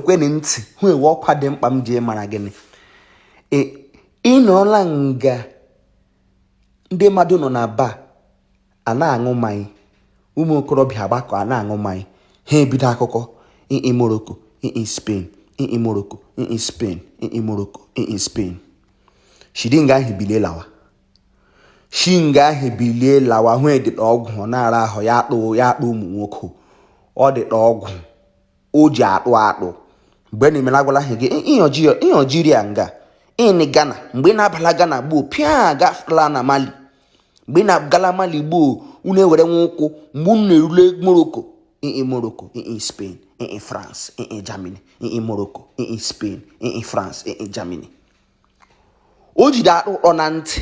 ekwenị ntị hụ ewe ọkwa dị mkpa m ji mara gịnị e, ị nọọla nga ndị mmadụ nọ na ba a na-aṅụ mmanya ụmụ okorobịa agbakọ a na-aṅụ mmanya ha ebido akụkọ ii Morocco ii Spain ii Morocco ii Spain ii Morocco ii Spain shi di nga ahụ bilie lawa shi nga ahụ bilie lawa hụ dịda ọgwụ ọ na-ara ahụ ya adụ ya adụ ụmụ nwoke ọ dịda ọgwụ o ji adụ adụ mgbe unu mela agwala ahụ gị ii Algeria nga ịnị Ghana mgbe ị na-abala Ghana gboo pịa gafela na Mali mgbe ị na-agala Mali gboo unu ewere nwa ụkwụ mgbe unu na-erule Morocco ii Morocco ii Spain ii France ii Germany ii Morocco ii Spain ii France ii Germany o jida adụ dọọ na ntị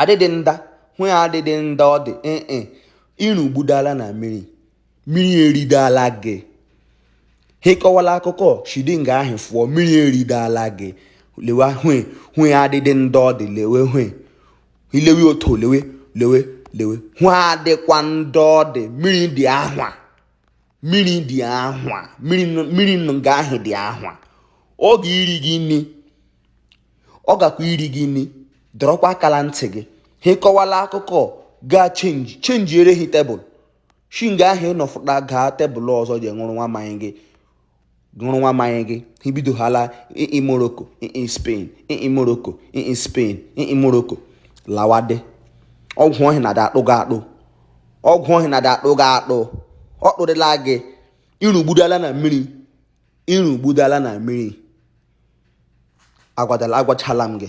adịdị nda hụ ya adịdị nda ọ dị ee e, ịrụgbudala na mmiri mmiri eridala gị hị kọwala akụkọ shi di nga ahụ fụọ mmiri eridala gị lewe hwe hụ ya adịdị nda ọ dị lewe hwe ilewe otu lewe lewe lewe hụ adịkwa nda ọ dị mmiri dị ahwa mmiri dị ahwa mmiri nga ahụ dị ahwa ọ ga iri gị nri ọ gakwa iri gị nri dọrọkwa aka la ntị gị hị kọwala akụkọ gaa chenji chenjiere hi tebụl shi nga ahụ ị nọ fụta gaa tebụl ọzọ ji ṅụrụ nwa mmanya gị ṅụrụ nwa mmanya gị hị bidohala ii Morocco ii Spain ii Morocco ii Spain ii Morocco lawadị ọgwụ ahụ na-ada adụ gị adụ ọgwụ ahụ na-ada adụ gị adụ ọ dụdịla gị ịrụgbudala na mmiri ịrụgbudala na mmiri agwachala m gị